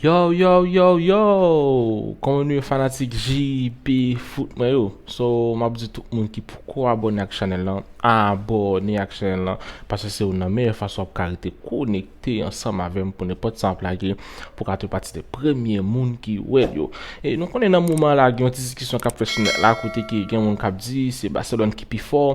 Yow yow yow yow kòman nou ye fanatik JP foot mwen yo so map di tout moun ki poko abòne ak chanèl lan abòne ak chanèl lan paske se youn nan meyè fason wap ka rete konekte ansanm avèm pou nenpòt sa map lage pou ka fè pati de premye moun ki wèl yo e nou konnen nan moman la gen yon ti diskisyon kap fèt sou nèt la kote ke gen moun kap di se Barcelone ki pi fò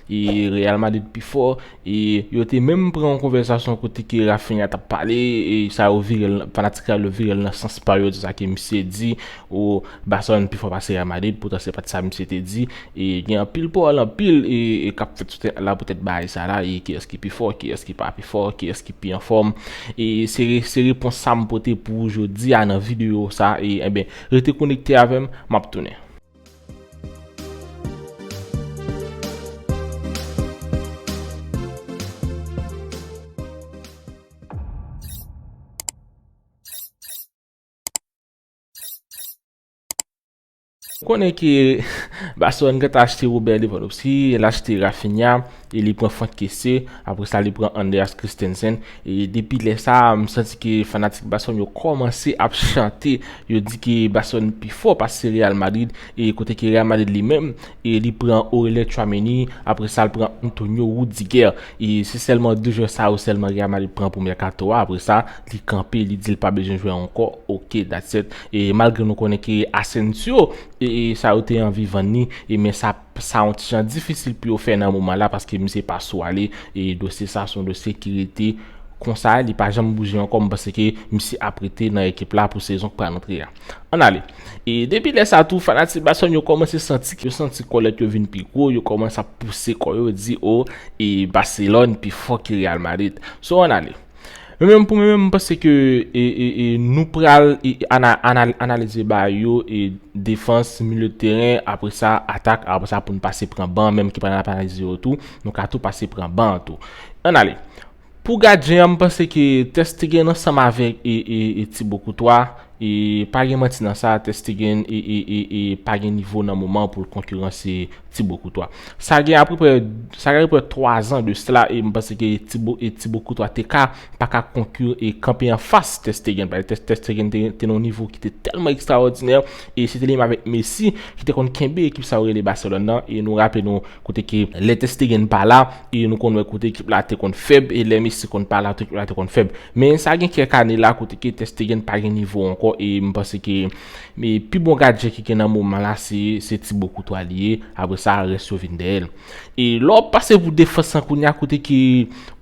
E Real Madrid pi fò e yo te menm pran yon konvèsasyon kote ke Raphinha tap pale e sa yo vire l fanatik Real yo vire l nan sans pa yo di sa ke misye di o Barcelone pi fò pase Real Madrid poutan se pat sa misye te di e gen anpil pawòl anpil e kap fèt sou tèt la poutèt bagay sa la e kiyès ki pi fò kiyès ki pa pi fò kiyès ki pi anfòm e se se repons sa m pote pou ou jodi a nan videyo sa e enben rete konekte avè m map tounen. Konnen ke Barcelone gentan achte Robben Lewandowski, el achte Raphinha, E li pran Franck Kessié, apre sa li pran Andreas Christensen. E depi lè sa a, m santi ke fanatik Barcelone yo kòmanse ap chante, yo di ke Barcelone pi fò pase Real Madrid, e kote ke Real Madrid li menm, e li pran Aurelien Tchouaméni, apre sa l pran Antonio Rudiger. E se sèlman 2 jwè sa yo sèlman Real Madrid pran pou mèkato a, apre sa li kanpe, li di l pa bezwen jwè ankò, ok that's it. E malgre nou konnen ke Asensio, e sa yo te anvi vann li, e men sa. Sa yon ti jan difisil pou yo fè nan moman la paske misye pa sou ale e dosye sa son dosye ki rete konsa li pa janm bouje ankò m panse ke misye ap rete nan ekip la pou sezon k pral antre a. Ann ale. E depi lè sa tou fanatik Barcelone yo kòmanse santi yo santi kòlèt yo vin pi gwo, yo kòmanse ap pouse kò yo di o e Barcelone pi fò ke Real Madrid. So ann ale. Mwen menm pou mwen menm mwen panse ke nou pral analize ba yo e defans milye de teren apre sa atak apre sa pou nou pase pran ban menm ki pa nan analize yo tou nou ka tou pase pran ban tou. An ale. Pou gadyen an mwen panse ke Testegen ansanm avèk e Tibo Koutwa e pa gen manti nan sa Testegen e pa gen nivo nan moman pou l konkiranse Tibo Koutwa. Sa gen apeprè, sa gen apeprè 3 zan de sla e m panse ke Tibo e Tibo Koutwa te ka, pa ka konku e kanpe an fas Ter Stegen. Pale Ter Ter Stegen te gen, te nan yon nivo ki te tèlman ekstraòdinè e se te li menm avèk Messi ki te konn kenbe ekip sa yo rele Barcelone nan e nou raple nou kote ke lè Ter Stegen pa la e nou konn wè kote ekip la te konn fèb e lè Messi konn pa la kote ekip la te konn fèb. Men sa gen kèk ane la kote ke Ter Stegen pa gen nivo ankò e m panse ke Me pi bon gadyen ki gen nan moman la se se ti bo koutwa li ye, apre sa rès yo vin dèyèl. E lè w pase pou defans lan kounye a kote ke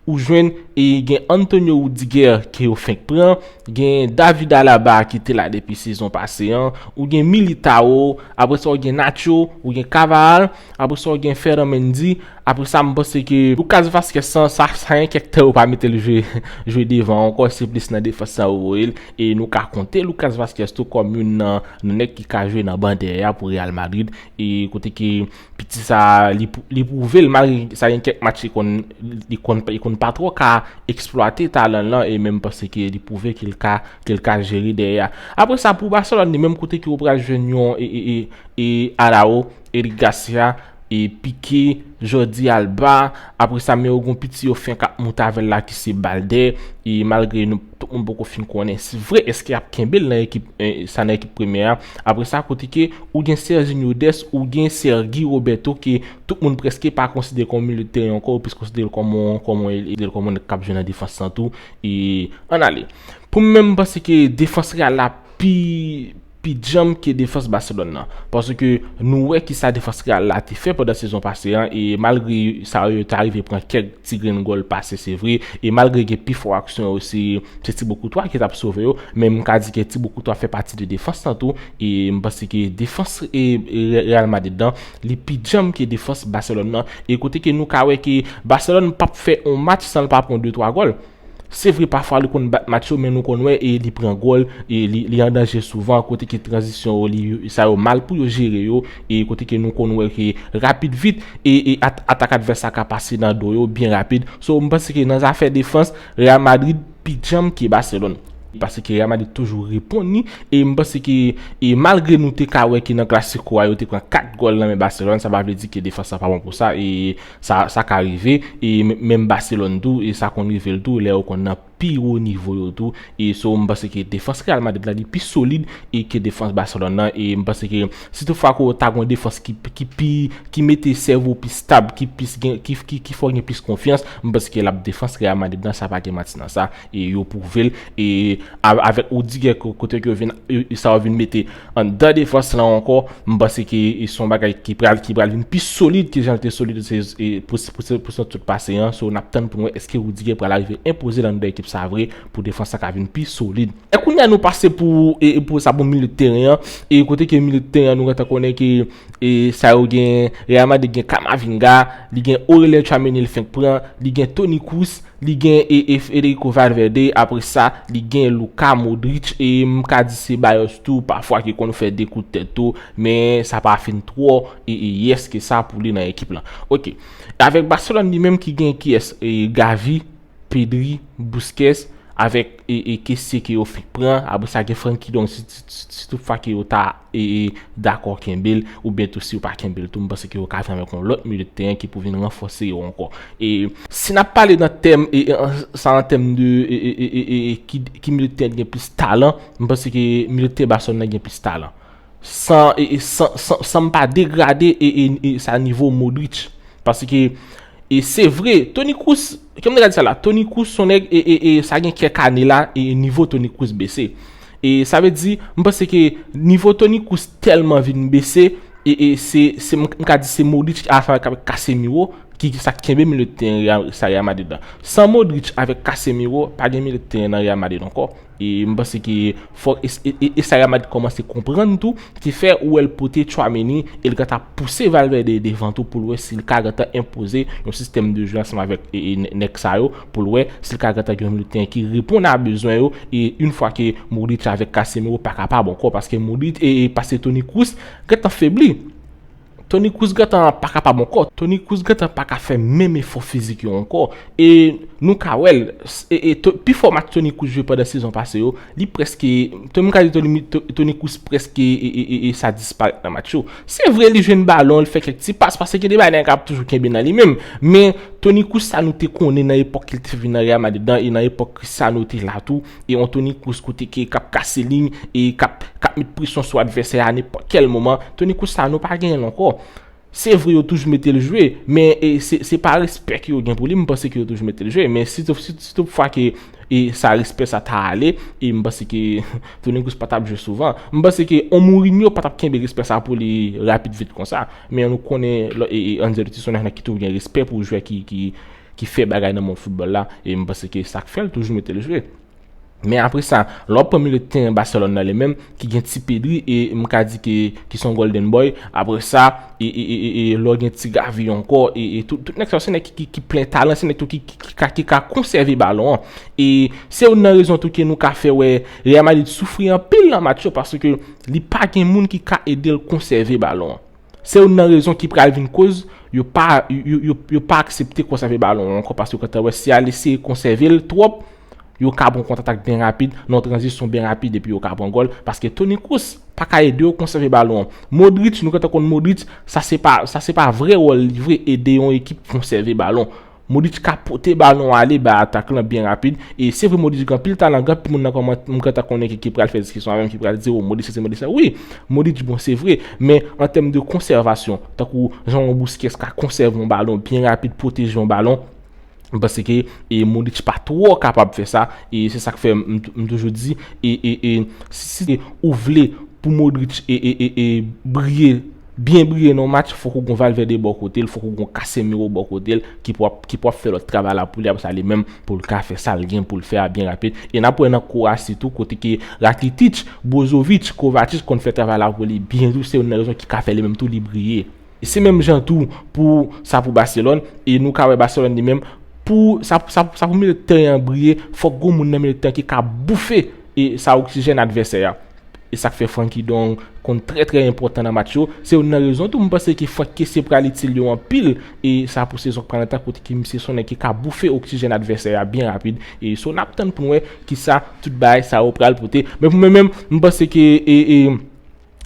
ou jwenn e gen Antonio Rudiger ke yo fenk pran, gen David Alaba ki te la depi sezon pase an, ou gen Militao, apre sa ou gen Nacho, ou gen Cavahal, apre sa ou gen Ferran Mendy, apre sa m panse ke Lucas Vazquez sa sa gen kèk tan yo pa mete l jwe devan ankò se plis nan defans lan yo voye l E nou ka konte Lucas Vazquez tou kòm youn nan nèg ki ka jwe nan ban dèyè a pou Real Madrid e kote ke piti sa li pwouve l malgre sa gen kèk match li konn pa twò ka eksplwate talan l lan e menm pase ke li pwouve ke l ka ke l ka jere dèyè a. Apre sa pou Barcelone li menm kote ke ou pral jwenn yon e Arao, Eric Garcia, E pike Jordi Alba, apre sa men yo gon piti yo fenk ap moute avè l la ki se Baldé, e malgre nou tout moun poko fin konnen si vre eske yap kenbe l nan ekip sa nan ekip premyè a, apre sa kote ke ou gen Serginho Dest, ou gen Sergi Roberto ke tout moun preske pa konsidere kòm yon milye de teren ankò, yo plis konsidere l kòm yon kòm yon elye, kòm yon nèg kap jwe nan defans lan tou, e an ale. Pou m menm m panse ke defans Real la pi. pi djanm ke defans Barcelone nan. Paske nou wè kisa defans Real la te fè pandan sezon pase an e malgre sa yo ta rive pran kèk ti grenn gòl pase se vre e malgre gen pi fò aksyon yo se Thibaut Courtois ki tap sove yo men m ka di ke Thibaut Courtois fè pati de defans lan tou e m panse ke defans Real Madrid lan li pi djanm ke defans Barcelone nan e kote ke nou ka wè ke Barcelone pap fè on match san l pa pran 2 3 gòl. Se vre pafwa li konn bat match yo men nou konn wè e li pran gòl e li an danje souvan kote ke tranzisyon yo li sa yo mal pou yo jere yo e kote ke nou konn wè ke rapid vit e atak advès la ka pase nan do yo byen rapid. So m panse ke nan zafè defans Real Madrid pi djanm ke Barcelone. Pase ke Real Madrid toujou reponn li e m panse ke e malgre nou te ka wè ke nan Clasico a yo te pran 4 gòl nan men Barcelone sa pa vle di ke defans la pa bon pou sa e Sa ka rive e menm Barcelone tou sa konn rive l tou lè yo konn nan pi wo nivo yo tou e so m panse ke defans Real Madrid la li pi solid e ke defans Barcelone nan e m panse ke si tout fwa ke w ta gon defans ki ki pi ki mete sèvo pi stab ki plis gen ki fè w gen plis konfyans m panse ke l ap defans Real Madrid nan sa pa gen manti nan sa. E yo pwouve l e avèk Rudiger kote ke yo vin sa yo vin mete anndan defans lan ankò, m panse ke se yon bagay ki pral ki pral vin pi solid ke jan l te solid pou pou sezon sot pase an. So n ap tann pou n wè èske Rudiger pral arive enpoze l anndan ekip sa vre pou defans la ka vin pi solid. E kounye a nou pase pou e pou sa pou milieu de teren an e kote ke milieu de teren an nou gentan konnen ke e sa yo gen Real Madrid gen Camavinga, li gen Aurelien Tchouaméni l fenk pran, li gen Toni Kroos, Li gen e e Federico Valverde, apre sa, li gen Luka Modric e m ka di Ceballos tou pafwa ki konn fè 2 kout tèt tou, men sa pa fin twò e e yès ke sa pou li nan ekip lan. Ok. Avèk Barcelone li menm ki gen kiyès? E Gavi, Pedri, Busquets, avèk e e Kessie ke yo fenk pran, apre sa gen Frenkie de Jong si si si toutfwa ke yo ta dakò kenbe l oubyen tou si yo pa kenbe l tou m panse ke yo ka jwenn avèk yon lòt milieu de terrain ki pou vin ranfòse yo ankò e si n ap pale nan tèm sa an tèm de ki milieu de terrain ki gen plis talan m panse ke milieu de terrain Barcelone nan gen plis talan san m pa degrade sa nivo Modric pase ke se vre Toni Kroos kèm de gade sa la Toni Kroos son nèg sa gen kèk ane la nivo Toni Kroos bese. E sa vle di, m panse ke nivo Toni Kroos tèlman vin bese, e e se se m ka di se Modric avk Casemiro ki sa k kenbe milieu de teren Real sa Real Madrid la. San Modric avèk Casemiro pa gen milieu de teren nan Real Madrid ankò. E m panse ke fò e e e sa Real Madrid kòmanse konprann tou ki fè ou wè l pote Tchouaméni e l gentan ap pouse Valverde devan tou pou l wè si l ka gentan enpoze yon sistèm de jwe ansanm avèk e e nèg sa yo pou l wè si l ka gentan gen yon milye teren ki reponn a bezwen yo e yon fwa ke Modric avèk Casemiro pa ka pa bon kò paske Modric e paske Toni Kroos gentan febli Toni Kroos gentan pa ka pa bon kò Toni Kroos gentan pa ka fè menm efò fizik yo ankò e nou ka wè l e pifò match Toni Kroos jwe pandan sezon pase yo Li prèske, Tony m ka di Tony Toni Kroos prèske sa disparèt nan match yo. Se vre li jwenn balon, li fè kèk ti pas, pase gen de bagay nèg ap toujou kenbe nan li menm. Men, Toni Kroos sa nou te konnen nan epòk li te vin nan Real Madrid lan e nan epòk Cristiano te la tou. E yon Toni Kroos kote ke kap kase liy e kap met presyon sou advèsè a nenpòt kèl moman. Toni Kroos sa nou pa genyen l ankò. Se vre yo toujou mete l jwe, men se pa respè ke yo gen pou li, m panse ke yo toujou mete l jwe, men si tout fwa ke sa respè sa ta ale, e m panse ke Toni Kroos pa tap jwe souvan, m panse ke yon Mourinho pa tap kenbe respè sa pou li rapid vit konsa, men nou konnen Ancelotti se yon nèg nan ki toujou gen respè pou jwè ki fè bagay nan mond foutbòl la, e m panse ke sak fè l toujou mete l jwe. Men apre sa, lè w pran milieu de terrain Barcelone la li menm ki gen ti Pedri e m ka di ke ki son golden boy, apre sa e e e e lè w gen ti Gavi ankò e e tout tout nèg sa yo se nèg ki ki plen talan, se nèg tou ki ki ka ki ka konsève balon an. E se youn nan rezon tou ke nou ka fè wè Real Madrid soufri anpil nan match yo paske li pa gen moun ki ka ede l konsève balon an. Se youn nan rezon ki pral vin koz yo pa yo pa aksepte konsève balon an ankò paske yo gentan wè si y al eseye konsève l twòp yo ka pran kontratak byen rapid nan yon tranzisyon byen rapid epi yo ka pran gòl paske Toni Kroos pa ka ede yo konsève balon an. Modric nou gentan konn Modric sa se pa sa se pa vre wòl li vre ede yon ekip konsève balon. Modric ka pote balon ale ba atak lan byen rapid e se vre Modric gen anpil talan gen anpil moun nan kòmantè m gentan konnen ki pral fè diskisyon avèm ki pral di o Modric sesi Modric sela wi Modric bon se vre men an tèm de konsèvasyon tankou jan yon Busquets ka konsève yon balon byen rapid pwoteje yon balon m panse ke e Modric pa twò kapab fè sa e se sak fè m toujou di e e e si ou vle pou Modric e e e briye. Byen briye nan yon match fòk ou gon Valverde bò kote l, fòk ou gon Casemiro bò kote l ki pou ap ki pou ap fè lòt travay la pou li apre sa li menm pou l ka fè sa l gen pou l fè a byen rapid e nap wè nan Kowasi tou kote ke Rakitic, Brozovic, Kovacic konn fè travay la pou li byen tou se youn nan rezon ki ka fè li menm tou li briye. Se menm jan tou pou sa pou Baselòn e nou ka wè Baselòn li menm pou sa pou sa pou milieu de terrain an briye fòk gon moun nan milieu de terrain ki ka boufe e sa oksijèn advèsè a. E sak fè Franky Dong konn trè trè enpòtan nan match yo, se youn nan rezon tou m panse ke Franck Kessié pral itil yo anpil e sa pou sezon k pral nan tan kote ke misye sonnen ke ka boufe oksijèn advèsè a byen rapid e so nap tann pou n wè kisa tout bagay sa yo pral pote men pou mwen menm m panse ke e e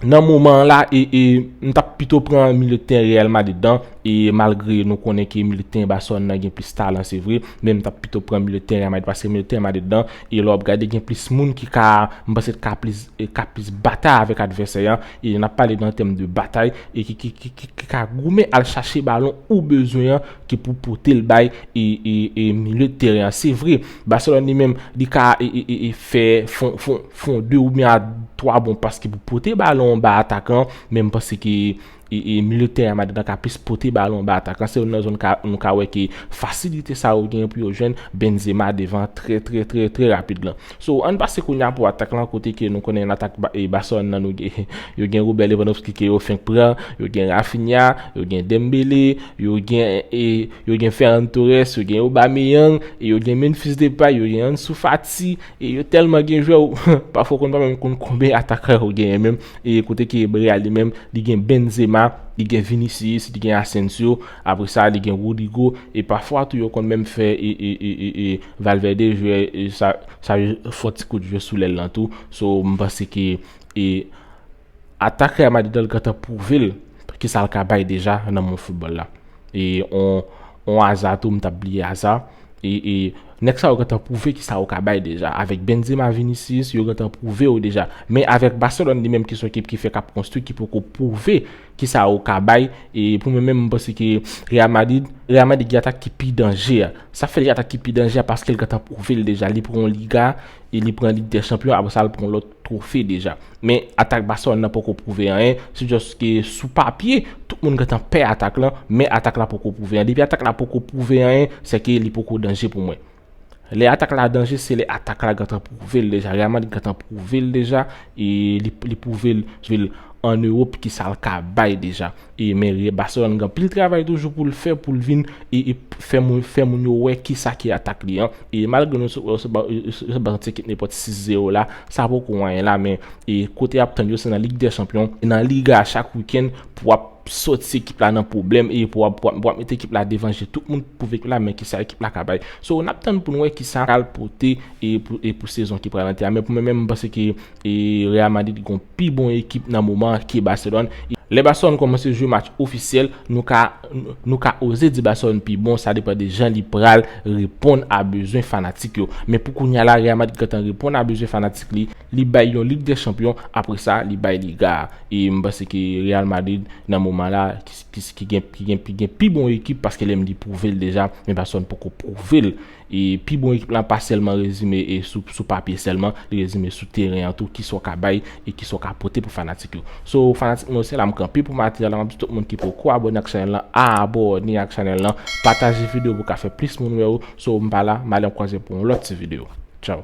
nan moman an la e e m tap pito pran milye de tèren Real Madrid an e malgre nou konnen ke milye de tèren Barcelone nan gen plis talan se vre men m tap pito pran milye de tèren Real Madrid paske milye de tèren Madrid an E lè w ap gade gen plis moun ki ka, m panse ka plis, ka plis batay avèk advèsè an, e n ap pale nan tèm de batay, e ki ki ki ki ka goumen al chache balon ou bezwen an ki pou pote l bay e e e milye de teren an. Se vre, Barcelone li menm li ka e e e fè fon fon fon 2 oubyen a 3 bon pas ki pou pote balon an bay atakan an, men m panse ke e milieu de terrain Madrid la ka plis pote balon ba atak lan se youn nan zòn nou ka wè ke fasilite sa yo genyen pou yo jwenn Benzema devan trè trè trè trè rapid lan so ann pase kounya pou atak lan kote ke nou konnen nan atak Barcelone nan nou gen yo gen Robert Lewandowski ke yo fenk pran yo gen Raphinha yo gen Dembele yo gen e yo gen Ferran Torres yo gen Aubameyang e yo gen Memphis Depay yo gen Ansu Fati e yo tèlman gen jwè ou pafwa ou konn pa menm konn konben atakan yo genyen menm E kote ki ebre a li menm, li gen Benzema, li gen Vinicius, li gen Asensio, apre sa li gen Rodrygo, e pafwa tou yo konn menm fè e Valverde jwè sa yo fò ti kout jwè sou lèl lan tou. So m panse ke e atak Real Madrid lan li gentan pwouve l ki sa l ka bay deja nan mond foutbòl la. E on On aza tou m tap bliye aza e nèg sa yo gentan pwouve kisa yo ka bay deja avèk Benzema Vinicius yo gentan pwouve yo deja men avèk Barcelone li menm ki son ekip ki fèk ap konstwi ki poko pwouve kisa yo ka bay e pou mwen menm m panse ke Real Madrid Real Madrid gen atak ki pi danje a sa fè li gen atak ki pi danje a paske l gentan pwouve l deja li pran yon Liga e li pran Ligue des Champions aprè sa l pran lòt twofe deja. Men atak Barcelone nan poko pwouve anyen, se just ke sou papye, tout moun gentan pè atak lan, men atak la poko pwouve anyen. Depi atak la poko pwouve anyen, se ke li poko danje pou mwen. Lè atak la danje, se lè atak la gentan pwouve'l deja. Real Madrid gentan pwouve'l deja, e li pwouve'l an Europe ki sa'l ka bay deja. E mèri Barcelone gen pil travay toujou pou l fè pou l vin fè moun yo wè kisa ki atak li an. E malgre nou sot pran yon ti ekip nenpòt 6 zero la, sa poko anyen la men kote y ap tann yo se nan Lig dè Chanpyon, nan Liga a chak wikenn pou w ap soti ekip la nan pwoblèm e pou w ap mete ekip la devan je tout moun pou ekip la men kisa ekip la ka bay. So n ap tann pou n wè kisa pral pote pou sezon ki pral antre a men pou mwen menm m panse ke E Real Madrid gen yon pi bon ekip nan moman an ke Barcelone. Lè Barcelone kòmanse jwe match ofisyèl, nou ka nou ka oze di Barcelone pi bon, sa depan de jan li pral reponn a bezwen fanatik yo. Men pou kounya la, Real Madrid gentan reponn a bezwen fanatik li, li bay yon Lig dè Chanpyon, apre sa li bay Liga a. E m panse ke Real Madrid nan moman la ki gen ki gen pi bon ekip paske lè m di pwouve l deja, men Barcelone poko pwouve l. E pi bon ekip la pa sèlman rezime sou papye sèlman, li rezime sou teren an tou, kisa w ka bay e kisa w ka pote pou fanatik yo. So fanatik mwen yo se la m kanpe pou matyè la, m ap di tout moun ki poko abòne ak chanèl lan abòne ak chanèl lan, pataje video pou ka fè plis moun wè yo, so m pa la, m ale m kwaze pou yon lòt ti video. Tchaw.